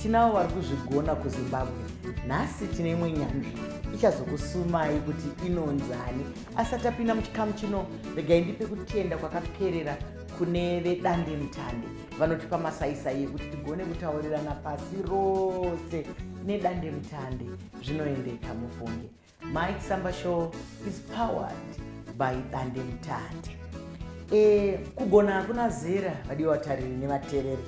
Tinavo vari kuzvigona kuZimbabwe. Nhasi tine imwe nyanzvi ichazokusumai kuti inonzani. Asati apinda muchikamu chino, regai ndipe kutenda kwakaperera kune vedande mutande vanotipa masaisai ekuti tigone kutaurirana pasi rose nedande mutande zvinoendeka mufunge Mike Samba Show is powered by Dande Mutande. E, kugona hakuna zera vadii vatariri nevatereri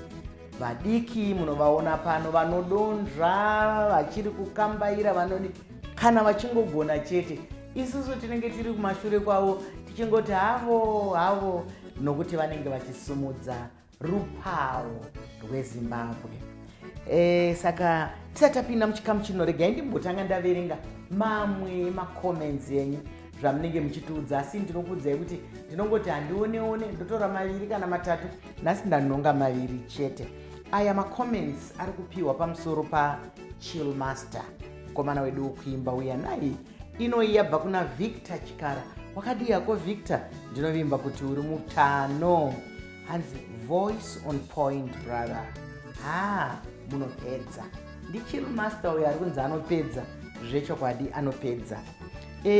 vadiki munovaona pano vanodonzva vachiri kukambaira vanodi kana vachingogona chete isusu tinenge tiri kumashure kwavo tichingoti havo havo nokuti vanenge vachisumudza rupawo rwezimbabwe e, saka tisati tapinda muchikamu chino regai ndimbotanga ndaverenga mamwe macomments enyu zvamunenge muchitiudza asi ndinokuudzai kuti ndinongoti handioneone ndotora maviri kana matatu nhasi ndanonga maviri chete aya macomments ari kupiwa pamusoro pachill master mukomana wedu wokuimba uya nai inoyi yabva kuna victor chikara wakadii yako victor ndinovimba kuti uri mutano hanzi voice on point brother haa munopedza ndichill master uyo ari kunzi anopedza zvechokwadi anopedza e,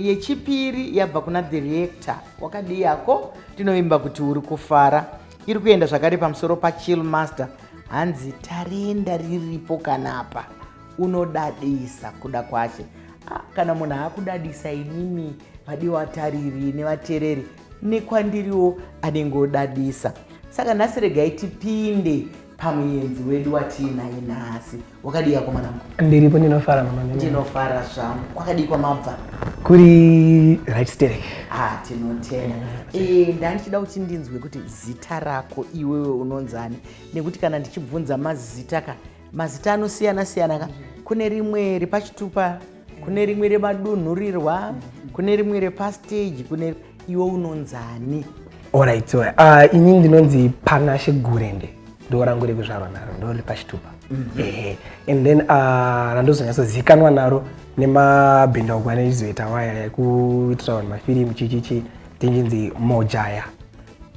yechipiri yabva kuna the reactor wakadii yako tinovimba kuti uri kufara iri kuenda zvakare pamusoro pachill master hanzi tarenda riripo kanapa unodadisa kuda kwache ah, kana munhu akudadisa inini vadiwa tariri nevatereri nekwandiriwo anenge odadisa saka nhasi regai tipinde pamuyenzi wedu watiinaye nhasi wakadii akomana mko ndiripo ndinofara mama ndinofara zvangu kwakadii kwamabva kuri right sterek ah tinotenda e, ndandichida kuti ndinzwe kuti zita rako iwewe unonzani nekuti kana ndichibvunza mazita ka mazita anosiyana siyana ka kune rimwe ripachitupa kune rimwe remadunhurirwa kune rimwe repastage kune iwe unonzani orit uh, ah, ini ndinonzi panashe gurende ndo rangu rekuzvarwa naro ndo riri pachitupa mm -hmm. ehe and then uh, ah, randozonyatsozikanwa naro nemabhindauko ane chizoita waya yekuitira vanhu mafirimu chichichi tinginzi mojaya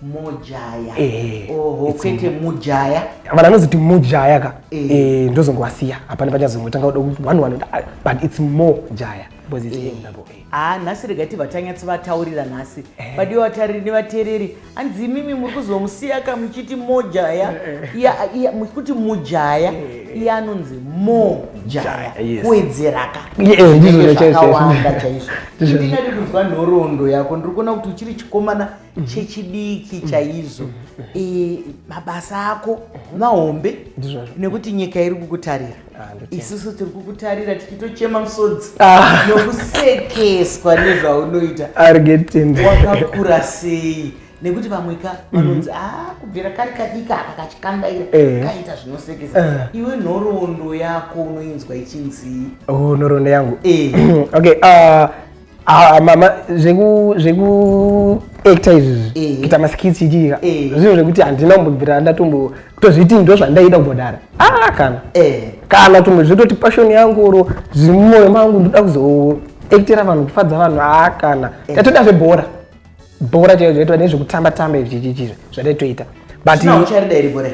mojaya eh, oho kwete mujaya vanhu vanozoti mujaya ka eh. eh, ndozongovasiya hapana pachazongotanga kuda kuti one one ah, but it's more jaya because it's eh. eh. ah nhasi rega ti vatanyatsi vataurira nhasi eh. but iwo vatariri nevateereri hanzi imimi muri kuzomusiya ka muchiti mojaya eh. muchikuti mujaya eh. iye anonzi mojaya kuwedzeraka ndizvozvakawanda chaizvo ndingadi kunzwa nhoroondo yako ndiri kuona kuti uchiri chikomana mhm. chechidiki mhm. chaizvo e, mabasa ako mahombe nekuti nyika iri kukutarira ah, isusu tiri kukutarira tichitochema musodzi ah. nokusekeswa nezvaunoita wakakura sei nekuti vamwe ka mhm. vanonzi a ah, kubvira kari kadika aka kachikandaira eh. kaita zvinosekesa eh. iwe nhoroondo yako unoinzwa ichinzii oh, nhoroondo yangu eh. okay ah, Ah, mama zveku zveku actor izvi Eh. kuita maskits chichiika Eh. zvinhu zvekuti handina kumbobvira ndatombo tozviti ndo zvandaida kumbodara ah kana Eh. kana tumwe zvitoti passion yangu oro zviri mumwoyo mangu ndoda kuzoactira vanhu kufadza vanhu ah kana tatoita zvebhora bhora chaiyo zvaitwa nezvekutamba tamba izvi chichichi zvataitoita but Zvina ucharida iri gore.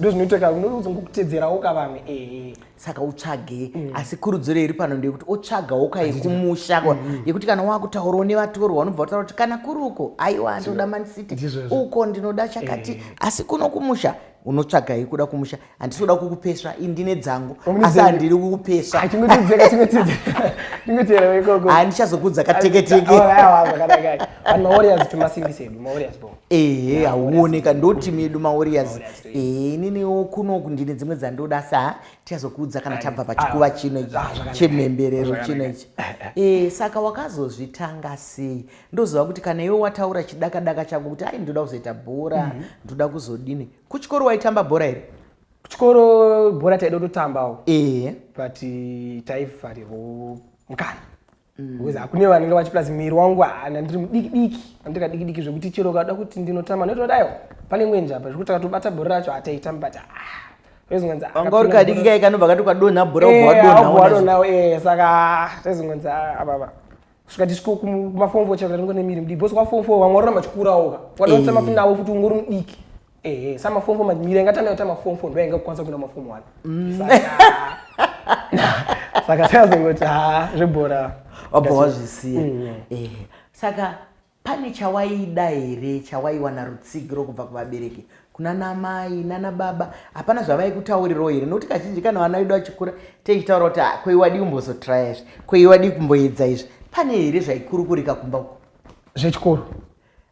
ndozvinoiteka unozongokutedzerawo ka vamwe ee saka utsvage mm. asi kurudziro iri pano ndeyekuti otsvagawo ka yekumusha kwa mm-hmm. yekuti kana wakutaurawo nevatorwa wanobva utaura kuti kana kuri uko aiwa ndinoda mancity uko ndinoda chakati eh. asi kuno kumusha unotsvaga yekuda kumusha handisi kuda kukupesva i ndine dzangu asi handiri kukupesva handichazokudza kateketeke ehe hauoneka ndoti medu mawarriors ehe ininiwo kunoku ndine dzimwe dzandoda sa tichazokuudza kana tabva pachikuva chino ichi chemhemberero chino ichi ehe saka wakazozvitanga sei ndoziva kuti kana iwe wataura chidaka daka chako kuti ai ndoda kuzoita bhora mhm. ndoda kuzodini kuchikoro waitamba bhora here kuchikoro bhora taida kutotambawo ehe but taifarirwo mukana Mm. because hakune vanenge vachi plus miri wangu haana ndiri mudiki diki andika diki diki zvekuti chero ukada kuti ndinotama ndotodayo pane mwenje apa zvekuti akatobata bhora racho hataitami but ah, wanga uri kadiki kai kanobva kati kwadonha bhora ubvawadonhawo eh, eh, saka ah, taizongonzi ah, apapa kusvika tisviko kumafomfo chero taringo nemiri mudiki bcause kwafomfo vamwe warona machikurawoka wadatama eh. kunawo futi ungori mudiki ehe samafomu manyira inga tanayo tamafomu fo ndoyainga kukwanisa kuenda mafomu wani mm. saka sakazongoti ha zvebhora wabva wazvisiya mm. eh, saka pane chawaida here chawaiwana rutsigiro kubva kuvabereki kuna namai nana baba hapana zvavaikutaurirawo here nokuti kazhinji kana vana vedu vachikura teichitaura kuti ah, koiwadii kumbozotraya izvi koiwadii kumboedza izvi pane here zvaikurukurika kumba uko zvechikoro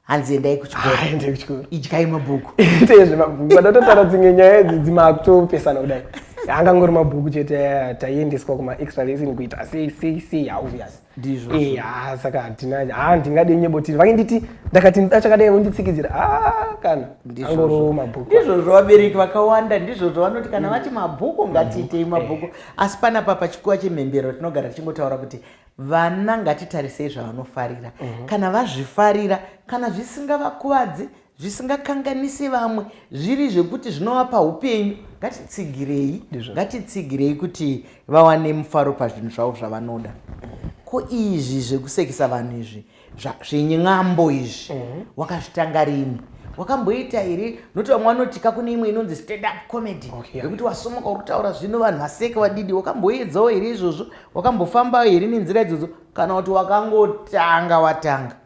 hanzi endai kuchikoaende kuchikoro idyai mabhuku itei zvemabhuku vanototaura dzimwe nyaya idzi dzimakutopesana kudai angangori mabhuku chete taiendeswa kumaextra lesson kuita sei sei sei hauviyas ndizvo eh, ha saka hatina ha ndingade nyebotini vange nditi ndakati ndida chakadai vonditsikidzira ha kana angoro mabhuku ndizvozvo vabereki vakawanda ndizvozvo vanoti kana vati mabhuku ngatiitei mabhuku eh. asi panapa pachikuwa chemhembero tinogara tichingotaura kuti Vana ngatitarisei zvavanofarira kana vazvifarira, kana zvisingavakuvadzi, zvisingakanganisi vamwe, zviri zvekuti zvinovapa hupenyu, ngatitsigirei, ngatitsigirei kuti vawane mufaro pazvinhu zvavo zvavanoda. Ko izvi zvekusekisa vanhu izvi zvin'ambo izvi mhm. wakazvitanga rini wakamboita here noti vamwe vanotika kune imwe inonzi stand up comedy yekuti wasomoka uri kutaura zvino vanhu vaseke vadidi wakamboedzawo here izvozvo wakambofambawo here nenzira idzodzo kana kuti wakangotanga watanga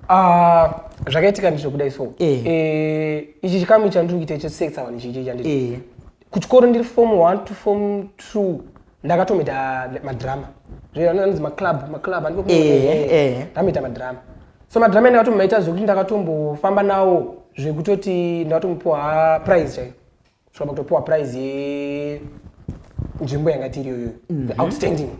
ah, zvakaitika ndizvo kudai so eh. Eh, ichi chikamu chandiri kuita icho sexa vanhu izvii chandii eh. kuchikoro ndiri fom one to fom two ndakatoita madrama zveanonzi maclub maclub andikaita madrama so madrama ndakatomaita zvekuti ndakatombofamba nawo zvekutoti ndakatomupiwa prize chaiyo svikamba kutopiwa prize yenzvimbo yanga tiri iyoyo mhm. outstanding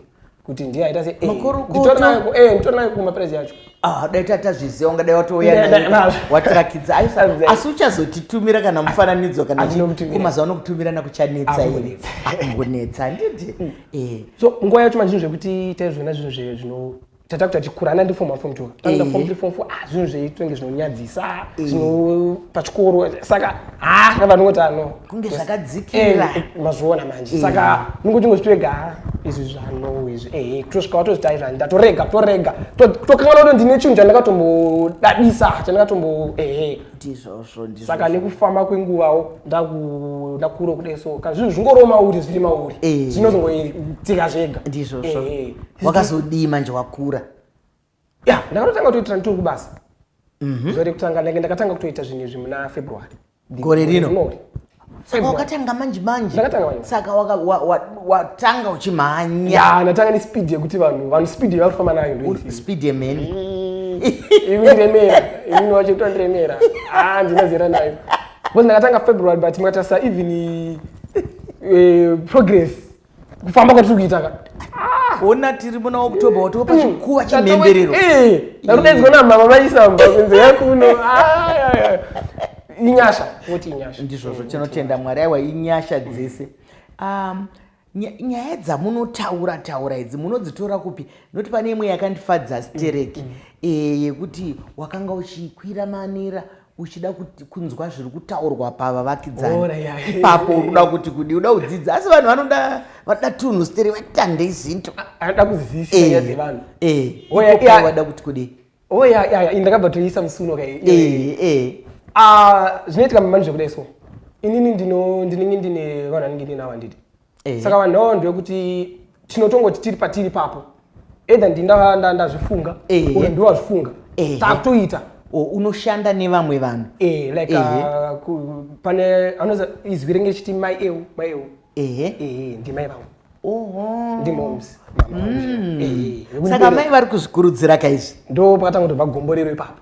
kuti ndiye aita seitorinayo eh, kumaprize yacho Ah, dai tatazviziva ungadai watouyawatsirakidza asi uchazotitumira kana mufananidzo kanamazuva anokutumira nakuchanetsa iri ambonetsa andidi mm. eh. so nguva yacho manje zvinhu zvekuti taizviona zvinhu zve zvino tata kuti atikurana ndifom afom two tanda fom three fom four ah zvinhu zveitenge zvinonyadzisa zvino pachikoro saka ha ah, vanongoti ano kunge zvakadzikira eh, eh, mazviona manje saka mungu tingozvitwega ah, izvi zvano izvi ehe eh, tosvika watozvitaira ndatorega torega tokanganwa kuti ndine chinhu chandakatombodadisa chandakatombo ehe ndizvozvo saka nekufamba kwenguvawo ndakuro kude so kana zvinhu zvingoriwo mauri zviri mauri zvinozongoitika zvega ndizvozvo wakazodii manje wakura ya ndakatotanga kutoitira nditori kubasa mhm. zuva rekutanga ndake ndakatanga kutoita zvinhu izvi muna february gore rino saka wakatanga manje manje saka watanga uchimhanya ndatanga nespeed yekuti vanhu vanhu speed yavari kufamba nayo ndoispeed yemheni imi remera imini wacho kuto ndiremera a ah, ndinazera nayo bcause ndakatanga february but makatarisa even eh, progress kufamba kwatiri kuita ka ona tiri muna october watova pachikuva chemhemberero ndakudaidzwa namama vaisamba kunze yakuno inyasha voti inyasha ndizvozvo tinotenda mwari aiwa inyasha dzese um, nyaya dzamunotaura taura idzi munodzitora kupi noti pane imwe yakandifadza stereki mm, mm. Eh, yekuti wakanga uchikwira manera uchida kunzwa zviri kutaurwa pavavakidzani ipapo unoda kuti kudi uda kudzidza asi vanhu vanoda vanoda tunhu steri vatandei zinto anoda kuzivisavanhu eh, eh. vada kuti kudi oya oh, ndakabva toisa musuno ka eh, ah, zvinoitika manje kudai so inini ndinenge ndine vanhu anenge ndinawo handiti Ehe. saka vanhu vavanhu vekuti tinotongoti tiri patiri papo edha ndinda nda- ndazvifunga Ehe. uye ndiwe wazvifunga Ehe. takutoita O, unoshanda nevamwe vanhu Eh, like Ehe. uh, ku- pane anoza izwi renge chiti mai eu mai eu ehe ehe ndimai vangu oho ndimoms mama vangu. Ehe, saka mai vari kuzvikurudzira kaizvi ndo pakatanga kutobva gomborero ipapo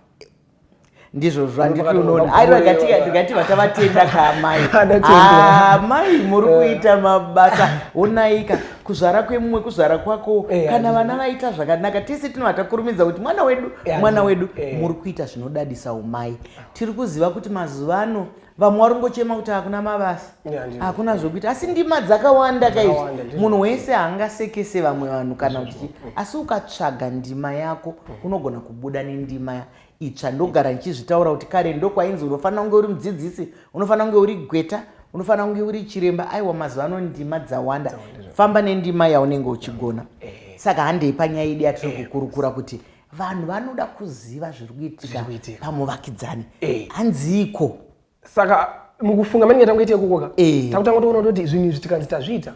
ndizvo zvanditi unoona aiwa ndikati vatavatenda kaamai amai ah, muri eh. kuita mabasa onaika kuzvara kwemumwe kuzvara kwako eh, kana vana vaita zvakanaka tese tinovata kurumidza kuti mwana wedu mwana wedu eh. muri kuita zvinodadisa umai tiri kuziva kuti mazuva ano vamwe wari kungochema kuti hakuna mabasa hakuna zvokuita asi ndima dzakawanda kaizvi munhu wese haangasekese vamwe vanhu kana kuti asi ukatsvaga ndima yako unogona kubuda nendima itsva ndogara ndichizvitaura kuti kare ndokwainzi unofanira kunge uri mudzidzisi unofanira kunge uri gweta unofanira kunge uri chiremba aiwa mazuva ano ndima dzawanda famba nendima yaunenge uchigona eh. saka handei panyaya idi yatiri eh. kukurukura kuti vanhu vanoda kuziva zviri kuitika pamuvakidzani eh. hanziiko saka mukufunga mani ngatanga ite kukoka eh. takutanga toona kutoti zvinhu izvi tikanzi tazviita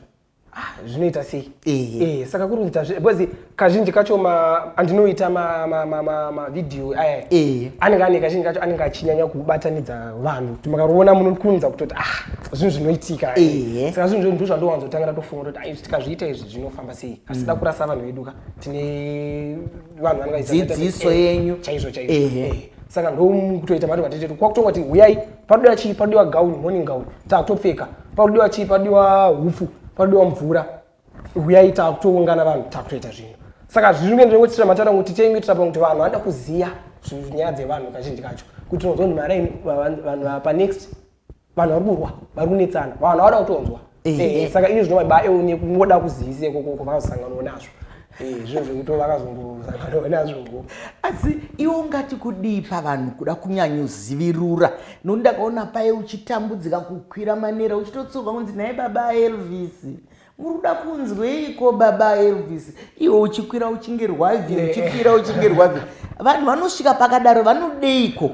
ah, zvinoita sei eh. saka kuri kunzi bcause kazhinji kacho andinoita mavhidhiyo aya anenge ane kazhinji kacho anenge achinyanya kubatanidza vanhu makaroona munokunza kutoti ah zvinhu zvinoitika saka zvinhu zvinhu ndozvandowanzotangira tofunga toti tikazviita izvi zvinofamba sei asi da mm. kurasa vanhu veduka tine vanhu vangadzidziso yenyu chaizvo chaizvo eh. saka ndokutoita mari vatetetu kwakutongwa ti huyai panodiwa chii panodiwa gauni morning gauni takutopfeka panodiwa chii panodiwa hupfu panodiwa mvura huyai takutoungana vanhu takutoita zvinhu saka zviri kuenda nekuitira matara kuti tichenge tirapa kuti vanhu vanoda kuziva nyaya dzevanhu kazhinji kacho kuti unozwa kuti maraini vanhu panext vanhu vari kurwa vari kunetsana vanhu havada kutonzwa eh, eh, eh. saka ini zvinova ba eune kungoda kuzivise kokoko vakazosanganwa nazvo zvinhu zvekuti vakazongosanganwa nazvo asi iwe ungati kudii pavanhu kuda kunyanyozivirura nokuti ndakaona paye uchitambudzika kukwira manera uchitotsuka kunzi nhai baba elvis muri kuda kunzweiko baba elvis iwe uchikwira uchinge rwavi eh. uchikwira uchinge rwavi vanhu vanosvika pakadaro vanodeiko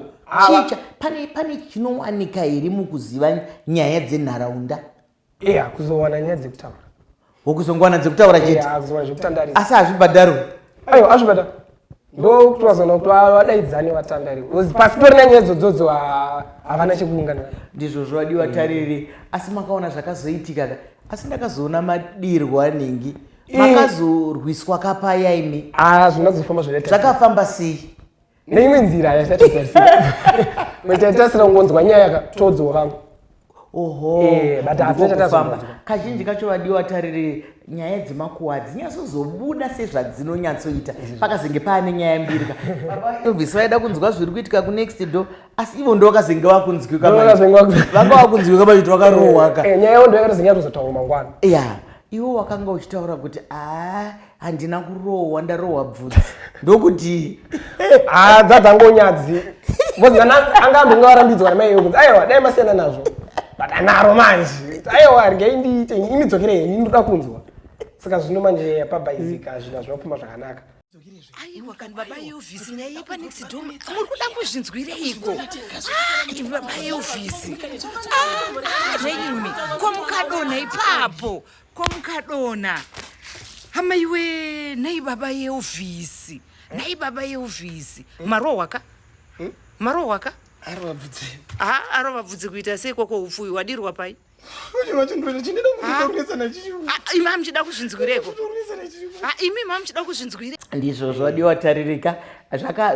chicha pane pane chinowanika here mukuziva nyaya dzenharaunda eya kuzowana nyaya dzekutaura wokuzongowana dzekutaura chete asi hazvibhadharwe ayo azvibhadharwe ndokuti wazona kuti wadaidzane vatandari bcause pasitori nanyaya dzodzodzo havana chekuungana ndizvo zvovadiwa tariri asi makaona zvakazoitika ka asi ndakazoona madirwo anhingi makazorwiswa kapaya imi ah, zvinazofamba zvakafamba sei neimwe nzira yasatiaita sira ungonzwa nyaya ka todzwa vangu Eh, kazhinji kacho vadiwa vatariri nyaya dzemakuwa dzinyasozobuda sezvadzinonyatsoita pakazenge paane nyaya mbiri ka obvisi vaida kunzwa zviri kuitika kunext do asi ivo ndo vakazenge vakunzwika vanga vakunzwika vaiti vakarohwaka eh, eh, nyaya yo ndo yakatozenge yatozotaurwa mangwana ya iwo wakanga uchitaura kuti aa handina kurohwa ndarohwa bvudzi ndokudii ah, dzadzangonyadzi anga ambonge varambidzwa namai yokunzi aiwa dai masiyana nazvo but anaro manje aiwa rgei ndiite imi dzokere heni ndoda kunzwa saka zvino manje pabhaizika hazvina zvinopfuma zvakanaka aiwa kani baba eovhisi nyaya yepanext dom muri kuda kuzvinzwireiko ah, imi baba eovhisi ah, ah, zveimi ko mukadonha ipapo Ko mukadona hama iwe nhai baba yeovhisi nhai baba yeovhisi marohwa ka hmm? marohwa ka ha arova bvudzi kuita sei kwoko upfuyi wadirwa pai imam chida kuzvinzwireko imi mam chida kuzvinzwire ndizvo zvodiwa taririka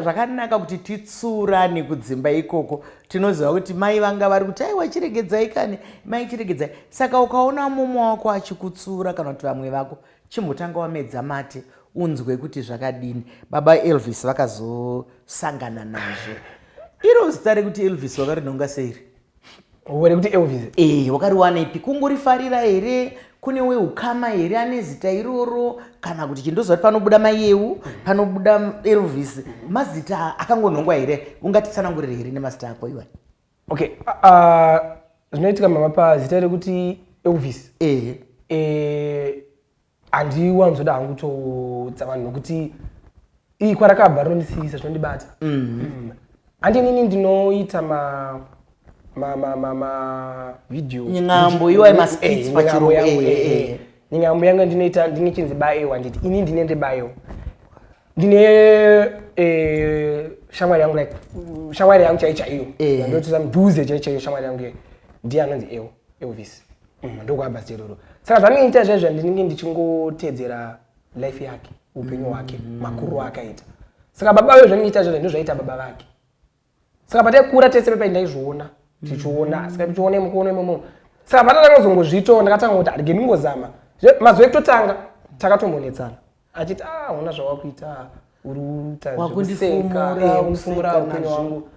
zvakanaka kuti titsurane kudzimba ikoko tinoziva kuti mai vanga vari kuti aiwa chiregedzai kani mai chiregedzai saka ukaona mumwe wako achikutsura kana kuti vamwe vako chimbotanga wamedza mate unzwe kuti zvakadini baba elvis vakazosangana nazvo iro zita rekuti elvis wakarinonga seiri wekuti elvis e eh, wakariwaneipi kungorifarira here kune weukama here ane zita iroro kana kuti chindoziva kuti panobuda mayeu panobuda elvis mazita akangonhongwa here ungatitsanangurire here nemazita ako iwa okay zvinoitika mama pazita rekuti elvis ehe eh, handiwanzoda hangu kutodza vanhu nokuti iyi kwarakabva rinondisiyisa zvinondibata mm. handi nini ndinoita ma nyingambo iwaye maskits eh, pachirungu eh, eh, nyingambo yangu ndinoita ndine chinzi baewa nditi ini ndine ndebaewa ndine shamwari yangu like shamwari yangu chai chaiyo ndotoita mudhuze chai chaiyo shamwari yangu iye ndiye anonzi ewo elvis mm, ndokuabva zeroro saka zvandinoita zvaizvo ndinenge ndichingoteedzera life yake upenyu hwake mm. makuru aakaita saka baba vayo zvaindiita zvona ndozvaita baba vake saka pataikura tese pepai ndaizviona tichiona mm. saka tichiona imukuona imomo saka patatanga kuzongozviitawo ndakatanga kuti arige ndingozama mazuva ekutotanga takatombonetsana achiti a ah, hona zvawakuita ah, uri uta zvekuseka eh, ufumura upenyu wangu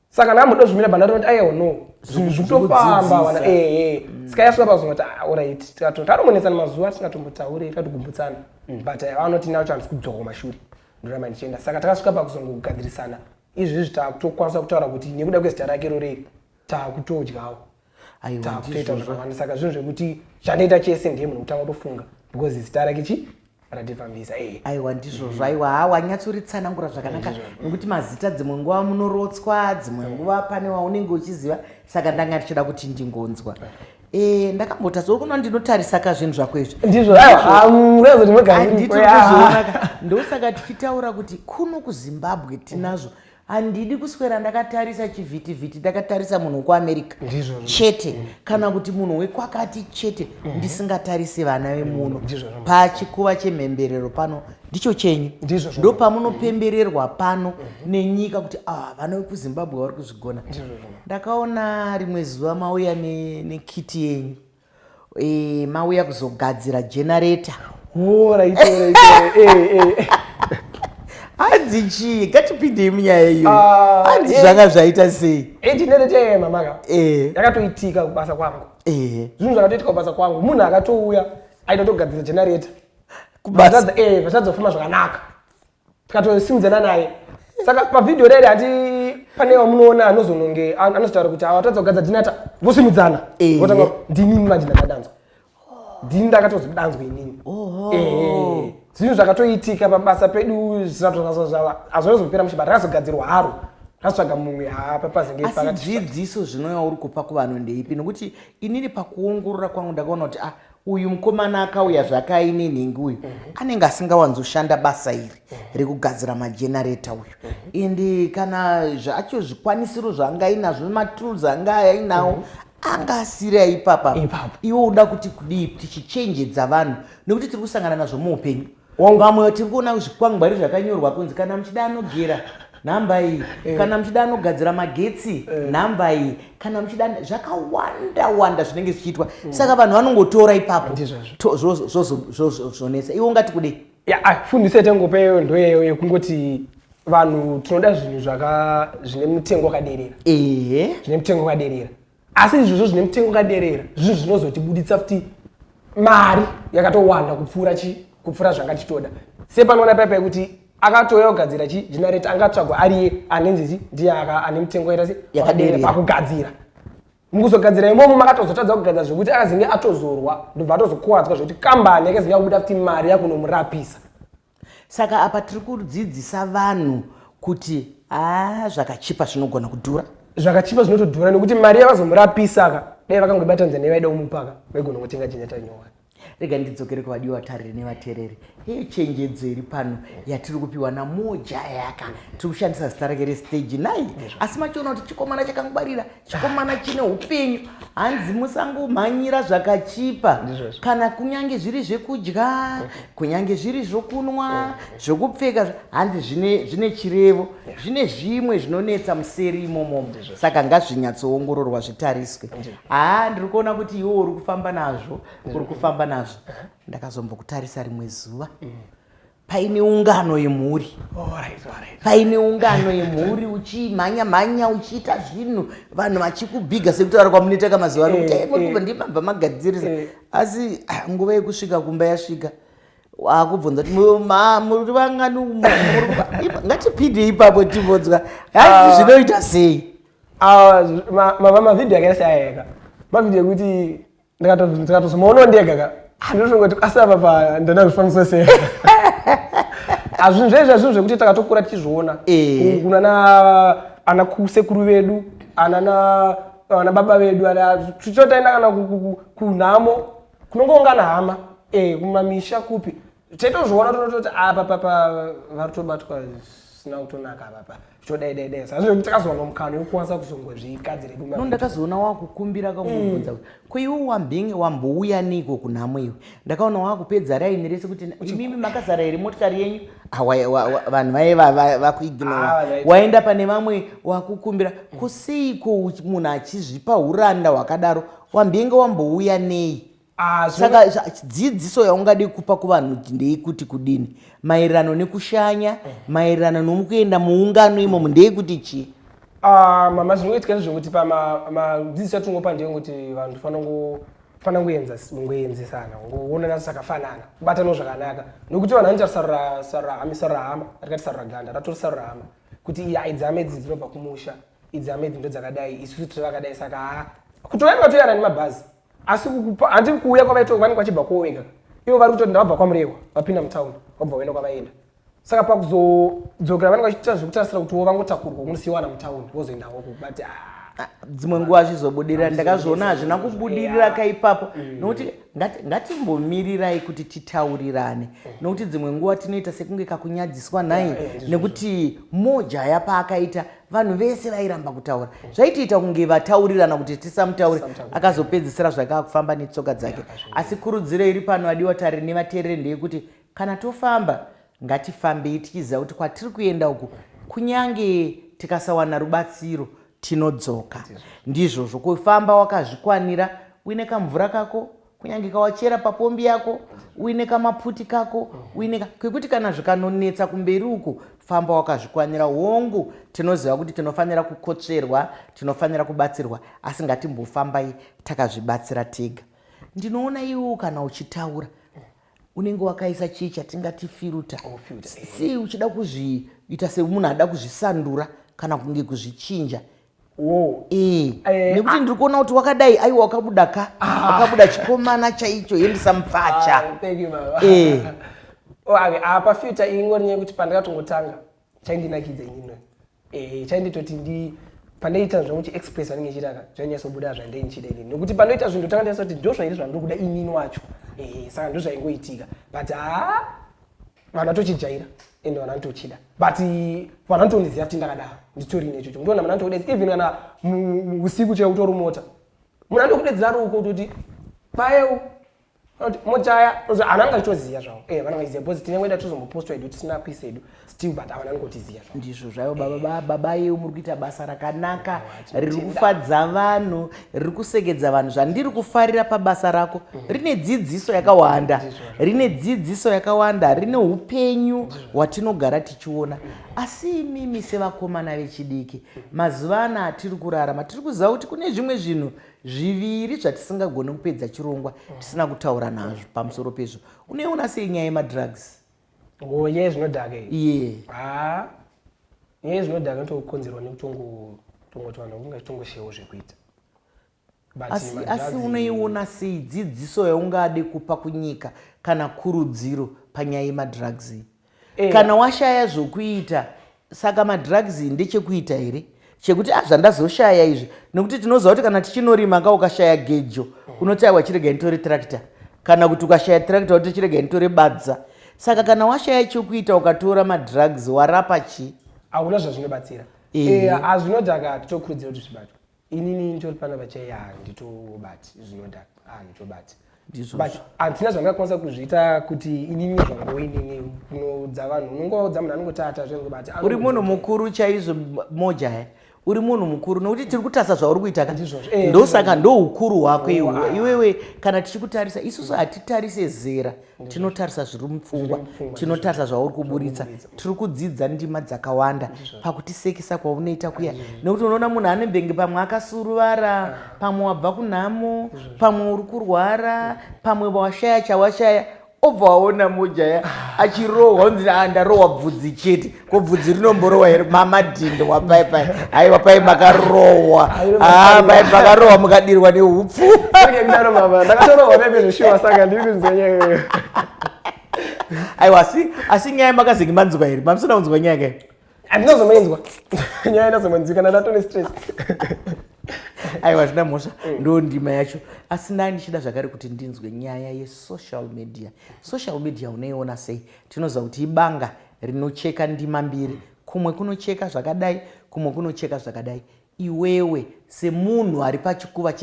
saka kana amboda kuzvimira banda rinoti ayewo no zvinhu zvitofamba wana ee mm. saka yasvika pazuva kuti ah, orit tikatoti anomonetsana mazuva tisingatombotaure tatokumbutsana mm. but eh, vanoti nacho handisi kudzoka kumashure ndoramba ndichienda saka takasvika pakuzongogadzirisana izvezvi takutokwanisa kutaura kuti nekuda kwezita rake rorei takutodyawo takutoita zvakawanda saka zvinhu zvekuti chandoita chese ndiye munhu kutanga kutofunga because zita rake chi ratifambisa eh. aiwa ndizvozvo mm-hmm. aiwa ha wanyatsoritsanangura zvakanaka eh, nokuti mazita dzimwe nguva munorotswa dzimwe eh. nguva pane waunenge uchiziva saka ndanga ndichida kuti ndingonzwa Eh, ndakambota zokuno ndinotarisa ka zvinhu zvako izvi ndizvondizoonaka ndosaka tichitaura kuti kuno kuzimbabwe tinazvo handidi kuswera ndakatarisa chivhitivhiti ndakatarisa munhu wekuamerica chete mm. kana kuti munhu wekwakati chete mm-hmm. ndisingatarise vana vemuno mm, pachikuva chemhemberero pano ndicho chenyu ndo pamunopembererwa pano mm-hmm. nenyika kuti ah, vana vekuzimbabwe vari kuzvigona ndakaona rimwe zuva mauya nekiti yenyu Eh, mauya kuzogadzira generator. Oh, right, right, right. eh, eh. hanzi chii ngatipindei munyaya iyo Ah, hanzi eh. zvanga zvaita sei Eh, generator yeye mamaka. Eh. Yakatoitika kubasa kwangu. Eh, Zvinhu zvakatoitika kubasa kwangu. Munhu akatouya aitotogadzira generator. kubasa Vachadza- eh, vachadza kufamba zvakanaka. tikatosimdzana naye saka pavhidhiyo rere hati pane wamunoona anozononge anozotaura kuti awatadza kugadza dhinata vosimudzana votanga ndinini manje ndakadanzwa ndini ndakatozodanzwa inini zvinhu zvakatoitika pabasa pedu zvinatoazozvava hazvona zopera mushe but rakazogadzirwa haro ratsvaga mumwe haapapazingeadzidziso zvinoya uri kupa kuvanhu ndeipi nokuti inini pakuongorora kwangu ndakaona kuti ah Uyu mukomana akauya zvake aine nhingi uyu anenge asingawanzoshanda basa iri rekugadzira majenareta uyu ende kana zvacho zvikwanisiro zvaanga ainazvo matools anga ainawo anga asiri aipapa Ipapo. iwe uda kuti kudii tichichenjedza vanhu nekuti tiri kusangana nazvo muupenyu Vamwe tiri kuona zvikwangwari zvakanyorwa kunzi kana muchida anogera nhamba iyi eh. kana muchida anogadzira magetsi eh. nhamba iyi kana muchida zvakawanda wanda zvinenge zvichiitwa mm. saka vanhu vanongotora ipapo zvozonetsa iwe ungati kudei ah, fundiso yatangopeyo ndoyeyo yekungoti vanhu tinoda zvinhu zvine mutengo wakaderera ehe zvine mutengo wakaderera asi izvozvo zvine mutengo wakaderera zvinhu zvinozotibuditsa futi mari yakatowanda kupfuura chi kupfuura zvanga tichitoda sepanoona paipa yekuti akatouya kugadzira chi generate angatsvagwa ariye anenzizi ndiye ane mutengo yaita se pakugadzira mukuzogadzira imomo makatozotadza kugadzira zvekuti akazinge atozorwa ndobva atozokuvadzwa zvekuti kambani yakazinge yakubuda futi mari yakunomurapisa Saka apa tiri kudzidzisa vanhu kuti haa zvakachipa zvinogona kudhura. Zvakachipa zvinotodhura nekuti mari yavazomurapisa ka dai vakangobata Tanzania vaida kumupaka vaigona kutenga chenjata nyowani. Rega ndidzokere kuvadiwa vatariri nevatereri. Hei chenjedzo iri pano yatiri kupiwa naMoja Yaka. Tiri kushandisa zita rake restage nhai. Asi machiona kuti chikomana chakangwarira chikomana chine upenyu hanzi musangomhanyira zvakachipa kana kunyange zviri zvekudya kunyange zviri zvokunwa zvokupfeka hanzi zvine chirevo zvine zvimwe zvinonetsa museri imomo saka ngazvinyatsoongororwa zvitariswe haa ndiri kuona kuti iwo uri kufamba nazvo uri kufamba nazvo ndakazombokutarisa rimwe zuva mm. paine ungano yemhuri paine ungano yemhuri uchimhanya mhanya uchiita zvinhu vanhu vachikubhiga sekutaura kwamunoita kamazuva ano kuti eh, eh. ndimabva magadzirisa eh. asi ah, nguva yekusvika kumba yasvika wakubvunza kuti muri vangani ngatipinde ipapo tibvunzwa hai ah. zvinoita sei ah, mavamavhidhiyo akaita seayeka mavhidhiyo ekuti ndikatozi maono ndega ka handinotongoti asi apa pa ndana zvifananiso sei hazvinhu zvaizva zvinhu zvekuti takatokura tichizviona eh. kunana ana kusekuru vedu anana ana baba vedu tichotaenda kana kunhamo kunongoungana hama eh, kumamisha kupi tetozviona tonototi apa papa vari tobatwa zvisina kutonaka apapa zvodaidaidai sa zvo takazowa nomukano yokukwanisa kuzongozvigadzira kuma no ndakazoona wakukumbira kamubvunza mm. kuti ko iwe wambinge wambouya niko kunhamo iwe ndakaona wakupedza raini rese kuti imimi makazara here motikari yenyu ah, vanhu vaye vakuignora ah, waenda pane vamwe wakukumbira ko seiko munhu achizvipa uranda hwakadaro wambinge wambouya nei Ah, saka dzidziso yaungadi kupa kuvanhu ndeikuti kudini maererano nekushanya eh. maererano nomukuenda muungano imomo ndeikuti chii ah, mama zvinoitika ndezvekuti pamadzidziso atingopa ndeyekuti vanhu tifanira kungoenzesana kuonana zvakafanana kubatanawo zvakanaka nokuti vanhu vanoita sarurahama rikati saruraganda ratori sarurahama kuti iya idzi hama idzi dzinobva kumusha idzi hama idzi ndo dzakadai isusu tiri vakadai saka haa kutoyanga toyana nemabhazi asi kukupa handi kuuya kwavaitoko vanenge vachibva kwowenga ivo vari kutoti ndavabva kwamurehwa vapinda mutown vabva vaenda kwavaenda saka pakuzodzokera vanenge vachiita zvekutarisira kuti wo vangotakurwa kunosiwana mutown vozoendawo kubati ah, Ah, dzimwe nguva azvizobudirira ndakazviona hazvina kubudirira ka ipapo mm. nokuti ngatimbomirirai kuti titaurirane mm. nokuti dzimwe nguva tinoita sekunge kakunyadziswa nhai nekuti mojaya paakaita vanhu vese vairamba kutaura zvaitiita kunge vataurirana kuti tisamutaure akazopedzisira zvake akufamba netsoka dzake asi kurudziro iri pano adiwa tari nevateereri ndeyekuti kana tofamba ngatifambei tichiziva kuti kwatiri kuenda uku kunyange tikasawana rubatsiro tinodzoka ndizvozvo kufamba wakazvikwanira uine kamvura kako kunyange kawachera papombi yako uine kamapfuti kako uine kwekuti kana zvikanonetsa kumberi uko famba wakazvikwanira hongu tinoziva kuti tinofanira kukotsverwa tinofanira kubatsirwa asi ngatimbofambai takazvibatsira tega ndinoona iwewo kana uchitaura unenge wakaisa chii chatingati firuta oh, si uchida kuzviita semunhu ada kuzvisandura kana kunge kuzvichinja Eh, eh, nekuti ah. ndiri kuona kuti wakadai aiwa wakabuda ka ah. wakabuda chikomana chaicho yendisa mupfacha ah, eh. oh, apa future ingori nyaya yekuti pandakatongotanga chaindinakidza inino chainditoti ndi pandaita zvangu chiexpress vanenge chitaka zvanyatsobuda zvandei ndichida inini nokuti pandoita zvinhu ndotanga ndasa kuti ndozvairi zvandiri kuda inini wacho saka ndozvaingoitika but haa vanhu vatochijaira ende vanhu vanotochida but vanhu vanotondiziva kuti ndakadaro nditori nechocho ndona vanhu vanotodedza even kana usiku chaiwo utori mota munhu anokudedzera ruko utoti payewo motaya hana anga itoziva zvavo e eh, vana vaiziva bcause tinenge ida tozombopostwa edu tisina kuisa edu still but avana nikotiziva zvavo ndizvo zvayo baba eh. baba yeu muri kuita basa rakanaka riri kufadza vanhu riri kusegedza vanhu zvandiri kufarira pabasa rako rine dzidziso yakawanda rine dzidziso yakawanda rine upenyu hwatinogara tichiona asi imimi sevakomana vechidiki mazuva ana atiri kurarama tiri kuziva kuti kune zvimwe zvinhu zviviri zvatisingagone kupedza chirongwa tisina kutaura nazvo pamusoro pezvo unoiona sei nyaya yemadrugs ngo nyaya zvinodhaka iye ah, nyaya zvinodhaka inotokonzerwa nekutongo tongo twana kunga tongoshewo zvekuita asi, asi unoiona sei dzidziso yaungade kupa kunyika kana kurudziro panyaya yemadrugs iyi eh. kana washaya zvokuita Saka madrugs ndechekuita here chekuti ah, zvandazoshaya izvi nekuti tinoziva kuti kana tichinorima ka ukashaya gejo unoti aiwa chirega nditore tractor kana kuti ukashaya tractor unoti chirega nditore badza saka kana washaya chekuita ukatora madrugs warapa chii hauna zvazvinobatsira hazvinodhaka eh, titokurudzira kuti zvibatwe inini nditori pana vachaiya handitobati zvinoda handitobati but handina zvandingakwanisa kuzviita kuti inini zvango inini kunoudza vanhu unongoudza munhu anongotata zvengobati uri munhu mukuru chaizvo mojaya eh? uri munhu mukuru nokuti tiri kutarisa zvauri kuita ka eh, ndosaka ndoukuru hwako iwewe kana tichikutarisa isusu hatitarise zera mm. tinotarisa zviri mupfungwa tinotarisa zvauri kuburitsa tiri kudzidza ndima dzakawanda pakutisekisa kwaunoita kuya nekuti unoona munhu ane bhengi pamwe akasuruvara pamwe wabva kunhamo pamwe uri kurwara pamwe washaya chawashaya obva waona mojaya achirohwa unzi ah, ndarohwa bvudzi chete ko bvudzi rinomborowa here mamadhindo wapai pai haiwa pai makarowa ah, pai makarowa mukadirwa neupfu aiwa asi asi nyaya makazenge manzwa here mamusina kunzwa nyaya kai andinozomainzwa nyaya inozomanzwi kana ndatone stress aiwa zvina mhosva mm. ndo ndima yacho asi nai ndichida zvakare kuti ndinzwe nyaya yesocial media social media unoiona sei tinoziva kuti ibanga rinocheka ndima mbiri kumwe kunocheka zvakadai kumwe kunocheka zvakadai iwewe semunhu ari pachikuva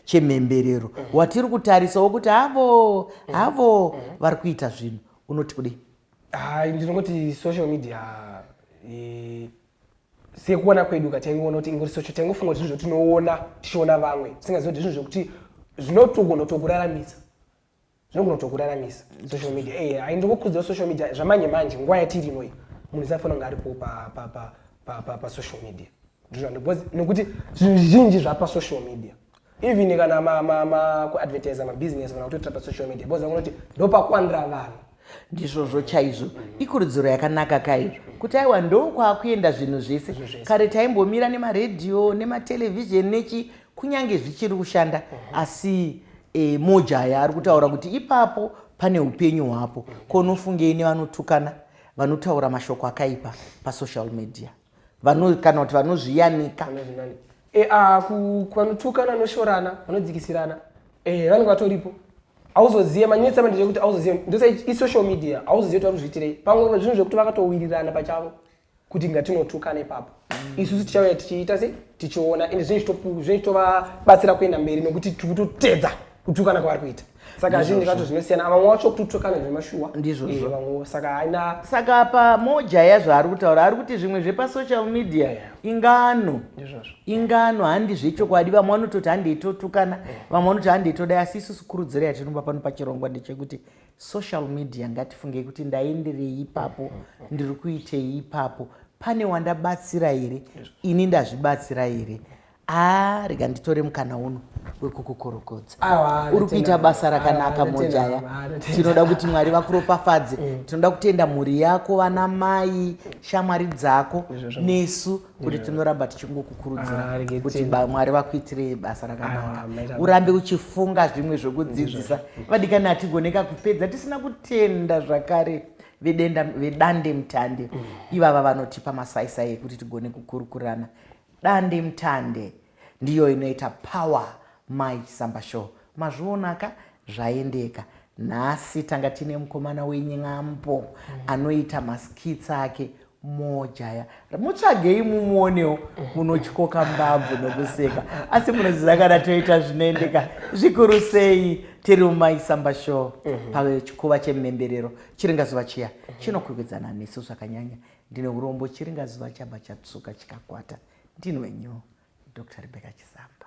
chemhemberero mm -hmm. watiri kutarisawo kuti havo mm -hmm. havo mm -hmm. vari kuita zvinhu unoti kudei hai ndinongoti social media e, sekuona kwedu ka taingoona kuti ingori social taingofunga kuti zvinhu zvotinoona tichiona vamwe tisingazivi kuti zvinhu zvokuti zvinotogonotokuramisa zvinogona kutokuraramisa social media ey eh, ndikukurudzira social media zvamanje manje nguva yatiri ino iyi munhu isafanira kunge aripo pasocial media nekuti zvinhu zvizhinji zvapasocial media even kana kuadvertisa mabusiness kana kutoitira pasocial media bcause vakunoti ndopakuwanira vanhu ndizvozvo chaizvo ikurudziro yakanaka kai kuti aiwa ndokwaakuenda zvinhu zvese kare taimbomira nemaredhiyo nematelevhizheni nechi kunyange zvichiri kushanda mhm. asi e, mojaya ari kutaura kuti ipapo pane upenyu hwapo mhm. konofungei nevanotukana vanotaura mashoko akaipa pasocial media vano kana kuti vanozviyanika Vanozvinani. Eh, ah, ku- kwanotukana anoshorana vanodzikisirana eh, vanenge vatoripo auzozive manyetsa manje kuti auzozive ndose isocial media auzozive kuti vari kuzviitirei pamwe zvinhu zvekuti vakatowirirana pachavo kuti ngatinotukana ipapo isusu tichauya tichiita sei tichiona ende zvinenge zvichitopu- zvinenge zvichitovabatsira kuenda mberi nekuti tiri kutotedza kutukana kwavari kuita saka zvinhu zvacho zvinosiyana vamwe wacho kututukana zvemashuwa ndizvozvo eh, saka haina saka apa mojaya zvaari kutaura ari kuti zvimwe zvepasocial media yeah. ingano ndizvozvo ingano handi zvechokwadi vamwe vanototi handi itotukana yeah. vamwe vanoti handi itodai asi isusu kurudziro yatinopa pano pachirongwa ndechekuti social media ngatifungei kuti ndaenderei ipapo mm, mm. ndiri kuitei ipapo pane wandabatsira here ini ndazvibatsira here Haa ah, rega nditore mukana uno wekukukorokodza ah, uri kuita basa rakanaka ah, mojaya tinoda kuti mwari vakuropafadze mm. tinoda kutenda mhuri yako vana mai shamwari dzako nesu kuti tinoramba tichingokukurudzira kuti mwari vakuitire basa rakanaka urambe uchifunga zvimwe zvekudzidzisa vadikani hatigoneka kupedza tisina kutenda zvakare vedande mutande mm. ivava vanotipa masaisai ekuti tigone kukurukurana Dande mutande ndiyo inoita power Mai Samba show mazviona ka zvaendeka nhasi tanga tine mukomana wen'ambo mm. anoita maskits ake mojaya mutsvagei mumuonewo munotyoka mbabvu nokuseka asi munoziva kana toita zvinoendeka zvikuru sei tiri mumaisamba show mhm. pachikuva chemhemberero chiringa zuva chiya mhm. chinokwikwedzana nesu zvakanyanya Ndine urombo chiringa zuva chabva chatsvuka chikakwata ndinwe nyu Doctor Rebecca Chisamba.